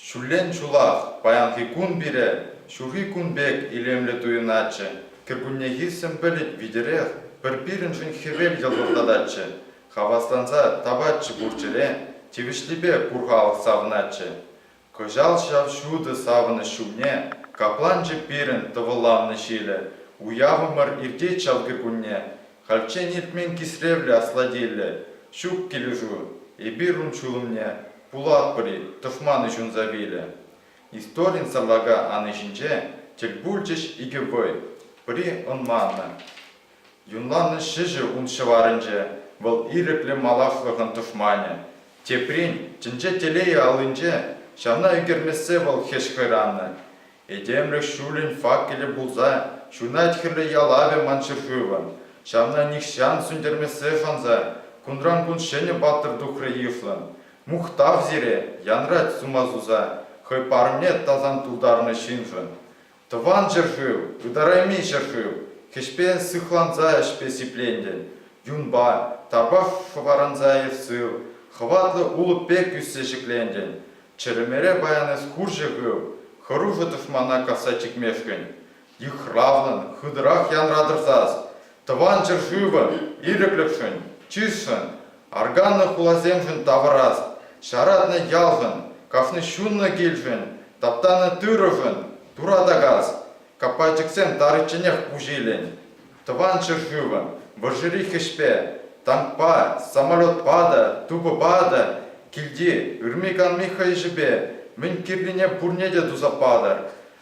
Ҫуллен чулах паянхи кун пире ҫурхи кун пек илемлӗ туйӑнатчӗ. Кӗркуннехи сӗмпӗлӗт витӗрех пӗр пирӗншӗн хӗвел йӑлтӑртататчӗ, хавасланса тапатчӗ пур ҫӗре, тивӗҫлипе пур халӑх савӑнатчӗ. Кӑҫал ҫав ҫутӑ савӑнӑҫ ҫумне капланчӗ пирӗн тӑвӑлланнӑ ҫилӗ. Уявӑмӑр иртет ҫав кӗкунне. Хальччен иртмен кисревлӗ аслатиллӗ ҫук килӗшӳ. Эпир ун ҫулӑмне пулатпӑр-и, тӑшманӗ ҫунса вилӗ. Историн сарлака ани ҫинче тӗл пулчӗҫ икӗ вӑй, пӗри ӑнманнӑ. Юнланнӑ ҫӗҫӗ ун ҫӑварӗнче, вӑл ирӗклӗ малашлӑхӑн тӑшманӗ. Теприн, тӗнче телейӗ аллинче, ҫавна ӳкермессе вӑл хӗҫ хӑйраннӑ. Этемлӗх ҫулӗн факелӗ пулса ҫунать хӗрлӗ ялавӗ ман ҫӗршывӑн, ҫавна нихҫан сӳнтермессе шанса кунран-кун ҫӗнӗ паттӑр тухрӗ йышлӑн. Мухтав сире, янрать сума суса хӑй парӑмне тасан тултарнӑ ҫыншӑн. Тӑван ҫӗршыв, ытарайми ҫӗршыв, хӗҫпен сыхланса ӗҫпе сиплентӗн, юнпа, тапах хӑпаранса ир сыв, хӑватлӑ улӑп пек ӳссе ҫӗклентӗн. Чӗрӗмере паян эс хурҫӑ хыв, хӑрушӑ тӑшмана касса чикмешкӗн, йыхравлӑн, хытӑрах янратӑр сас, Тӑван ҫӗршывӑн ирӗклӗхшӗн, чысшӑн, арканнӑ хуласемшӗн тавӑрас, ҫаратнӑ ялшӑн, каҫнӑ ҫуннӑ килшӗн, таптанӑ тырӑшӑн туратакас каппайчӑксем таричченех пуҫ илӗн. Тӑван ҫӗршывӑн вӑрҫӑри хӗҫпе, танкпа, самолетпа та, тупӑпа та, килти ырми-канми хӑйӑҫӗпе мӗн кирлине пурне те туса патӑр.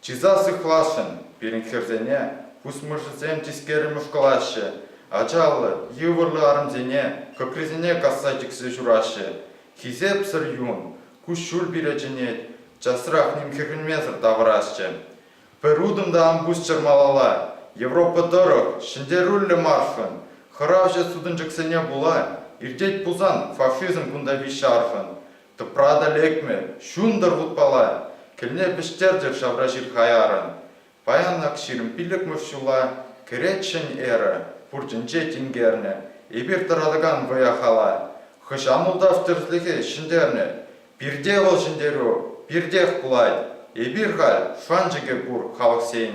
Чыса сыхласшӑн пирӗн хӗрсене, пусмӑрҫӑсем тискеррӗн ушкӑлаҫҫӗ, ачаллӑ, йывӑрлӑ арӑмсене кӑкрисене касса чиксе ҫураҫҫӗ. Хисепсӗр юн, куҫҫуль пире чӗнет, часрах ним хӗрхенмесӗр тавӑрасчӗ. Пӗр утӑм та ан пусчӑр малалла, Европа тӑрӑх, ҫӗнтерӳллӗ маршӑн, хӑравҫӑ сутӑнчӑксене пула иртет пулсан фашизм кунта виҫҫӗ аршӑн, Тӑпрана лекмӗ, ҫунтӑр вутпала кӗлне вӗҫтерчӗр ҫавра ҫил хаяррӑн. Паян ак ҫирӗм пиллӗкмӗш ҫула кӗретчӗн эрӗ, пуртӗнче тинкернӗ эпир тӑратакан вӑя-хала. Хӑҫан ултав тӗрӗслӗхӗ ҫӗнтернӗ? Пирте вӑл ҫӗнтерӳ пиртех пулать. Эпир халь шанчӑкӗ пур халӑхсен.